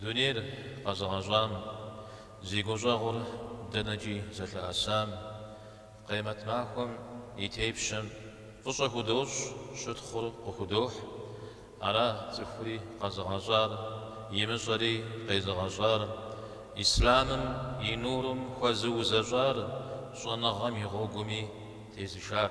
Дунейр къэзыгъэщӏам, зи гущӏэгъур дэнэкӏи зэлъэӏэсам, Къемэт махуэм и тепщэм фӏыщӏэ худощӏ, щытхъур къыхудохь. Ара цӏыхури къэзыгъэщӏар, имыщӏэри къезыгъэщӏар, Ислъамым и нурым хуэзыузэщӏар, щӏэныгъэм и гъуэгуми тезышар.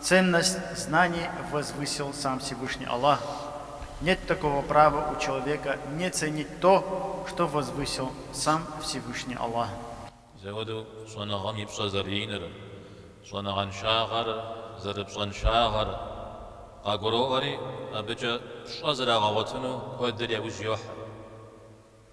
Ценность знаний возвысил сам Всевышний Аллах, нет такого права у человека не ценить то, что возвысил сам Всевышний Аллах. Зэуэдэу щӏэныгъэм и пщӏэ зэрыиныр, щӏэныгъэншагъэр зэрыпщӏэншагъэр къагуроӏуэри, абыкӏэ пщӏэ зэрагъэгъуэтыну куэдыр яужь йохьэ.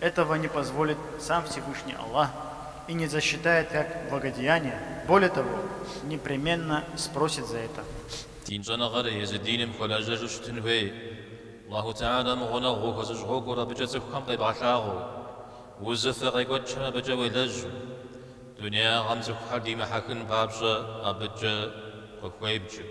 Этого не позволит сам Всевышний Аллах и не засчитает как благодеяние, более того, непременно спросит за это. Дин щӏэныгъэр езы диным хуэлэжьэжу щытын хуей. Аллаху Теалэм гъунэгъу ухуэзыщӏ гъуэгур абыкӏэ цӏыхухэм къебгъэлъагъуэу, узыфэ къекӏуэкӏхэм абыкӏэ уелэжьу, дунеягъэм цӏыхухэр димыхьэхын папщӏэ абыкӏэ къыхуебджэу.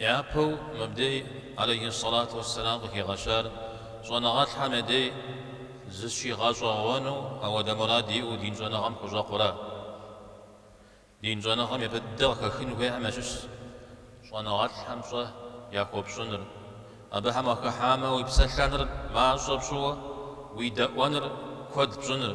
Япэу мыбдей алейхьиссалату уассалам къыхигъэщар щӏэныгъэлӏхэм я дей зыщигъэщӏэгъуэну ауэдэ мурад иӏэу дин щӏэныгъэм хущӏэкъура. Дин щӏэныгъэм япэ дыдэ къыхэхын хуейхэм ящыщщ щӏэныгъэлӏхэм пщӏэ яхуэпщӏыныр, абыхэм укъахыхьамэ уи псэлъэныр мащӏэ пщӏыуэ уи дэӏуэныр куэд пщӏыныр.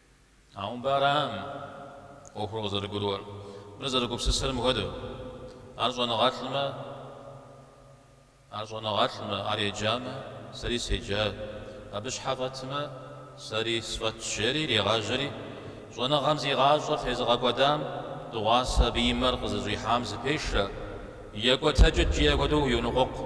Ауэ мыбы аракъым ӏуэхур къызэрыгурыӏуэр, мыр зэрыгупсысырым хуэдэу. Ар щӏэныгъэлӏмэ, ар щӏэныгъэлӏмэ, ар еджамэ, сэри седжат, абы щхьэ фӏэтмэ, сэри сфӏэтщ, жери иригъажьэри, щӏэныгъэм зи гъащӏэр тезыгъэкӏуэдам дыгъуасэ абы и мэр къызыщӏихьам зыпешэ, екӏуэтэкӏыт, жиӏэ хуэдэу йоныкъуэкъу.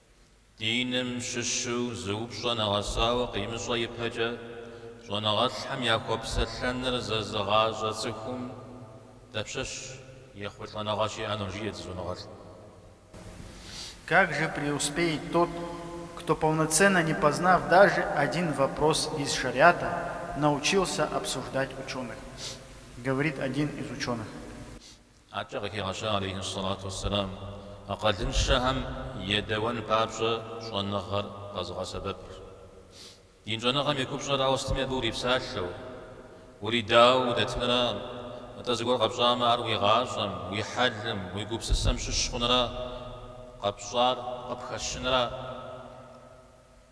Диным щыщу зы упщӏэ нэгъэсауэ къимыщӏэ ипэкӏэ, щӏэныгъэлӏхэм яхуэпсэлъэныр зэзыгъащӏэ цӏыхум дапщэщ ехъулӏэныгъэ щиӏэнур, жеӏэ зы щӏэныгъэлӏым. Как же преуспеет тот, кто полноценно не познав даже один вопрос из шариата, научился обсуждать ученых? говорит один из ученых. Адэкӏэ къыхигъэща алейхьиссалату уассалам акъылыншэхэм едэуэн папщӏэ щӏэныгъэр къэзыгъэсэбэпыр. Дин щӏэныгъэм и купщӏэр ауэ сытми абы урипсалъэу, уридауэ удэтынра, атӏэ зыгуэр къэпщӏамэ ар уи гъащӏэм, уи хьэлым, уи гупсысэм щыщ хъунра, къэпщӏар къыпхэщынра.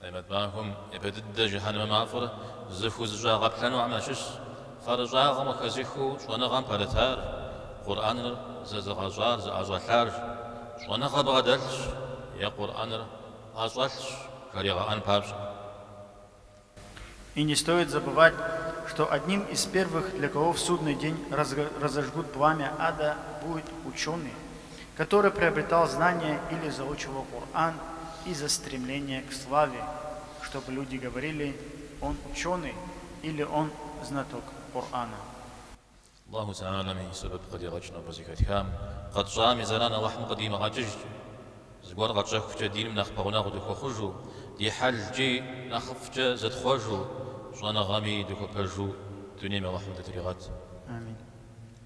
Къемэт махуэм япэ дыдэ жыхьэнмэ мафӏэр зыхузэщӏагъэплъэнухэм ящыщщ, фэрыщӏагъым къыхэзыхыу щӏэныгъэм пэрытар, Къурӏэныр зэзыгъэщӏар зыӏэщӏэлъар щӏэныгъэ бгъэдэлъщ е Къурӏэныр ӏэщӏэлъщ жаригъэӏэн папщӏэ. И не стоит забывать, что одним из первых, для кого в судный день разожгут пламя ада, будет ученый, который приобретал знания или заучивал Кур'ан из-за стремления к славе, чтобы люди говорили, Он ученый или Он знаток Кур'ана. Аллаху ты'алэм и сэбэп къыдигъэкӏ нобэ зэхэтхам, къэтщӏам и зэран Аллахьым къыдимыгъэкӏыжкӏэ. Зыгуэр къэтщӏэхукӏэ диным нэхъ пэгъунэгъу дыхуэхъужу, ди хьэлкӏи нэхъыфӏкӏэ зытхъуэжу, щӏэныгъэми дыхуэпэжу дунейм Аллахьым дытригъэт. Амин.